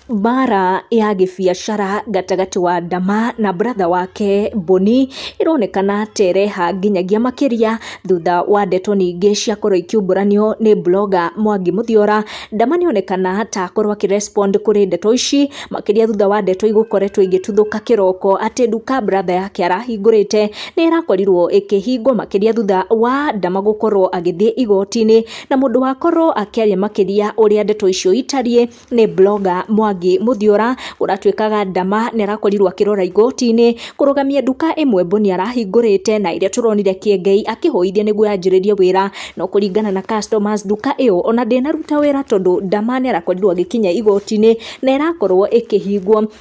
Mbaara ya gĩbiacara gatagatĩ wa Ndama na brother wake Boni, ĩronekana ta ĩreha nginyagia makĩria, thutha wa ndeto nyingĩ ciakorwo ikiumbũranio nĩ blogger Mwangi Mũthiora. Ndama nĩ onekana ta akorwo akĩ respond kũrĩ ndeto ici, makĩria thutha wa ndeto igũkoretwo igĩtuthũka kĩroko, atĩ nduka brother yake arahingũrĩte, nĩ ĩrakorirwo ĩkĩhingwo, makĩria thutha wa Ndama gũkorwo agĩthiĩ igoti-inĩ, na mũndũ wakorwo akĩaria makĩria ũrĩa ndeto icio itariĩ. nĩ blogger Mwangi Mũthiora, ũratuĩkaga ndama na arakorirwo akĩrora igoti-inĩ, kũrũgamia nduka ĩmwe Bonia arahingũrĩte, na ĩrĩa tũronire Kĩengei akĩhũithia nĩguo yanjĩrĩrie wĩra, no kũringana na customers nduka ĩyo ona ndĩnaruta wĩra tondũ ndama nĩ arakorirwo agĩkinya igoti-inĩ, na ĩrakorwo ĩkĩhingwo.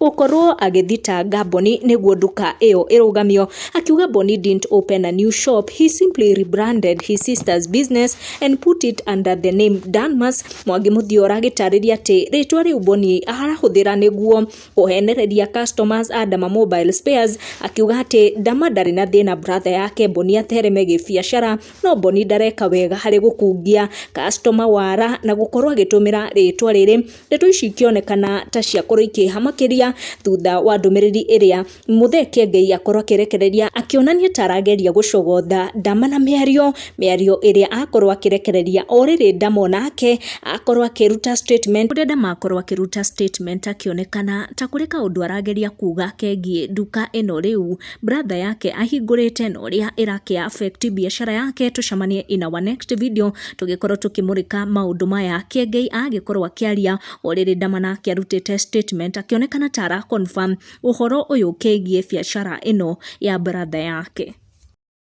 gũkorwo agĩthitanga Boni nĩguo nduka ĩyo ĩrũgamio, akiuga Boni didn't open a new shop, he simply rebranded his sister's business and put it under the name Danmas. Mwangi Mũthiora agĩtarĩria atĩ rĩtwa rĩu Boni arahũthĩra nĩguo kũhenereria customers a Dama Mobile Spares, akiuga atĩ Dama ndarĩ na thĩna brother yake Boni athereme gĩbiacara, no Boni ndareka wega harĩ gũkungia customer wara na gũkorwo agĩtũmĩra rĩtwa rĩrĩ Ndeto ici ikĩonekana ta ciakorwo ikĩeha makĩria thutha wa ndũmĩrĩri ĩrĩa Muthee Kiengei akorwo akĩrekereria akĩonania ta arageria gũcogotha Ndama na mĩario, mĩario ĩrĩa akorwo akĩrekereria o rĩrĩ Ndama onake akorwo akĩruta statement, ũrĩa Ndama akorwo akĩruta statement akĩonekana ta kũrĩ kaũndũ arageria kuga kegiĩ nduka ĩno rĩu. Brother yake ahingũrĩte na ũrĩa ĩrakĩ affect biacara yake tũcemanie in our next video tũgĩkorwo tũkĩmũrĩka maũndũ maya kĩengei agĩkorwo akĩaria orĩrĩ ndamana akĩarutĩte statement akĩonekana ta ara confirm ũhoro ũyũ kĩgiĩ biacara ĩno ya brother yake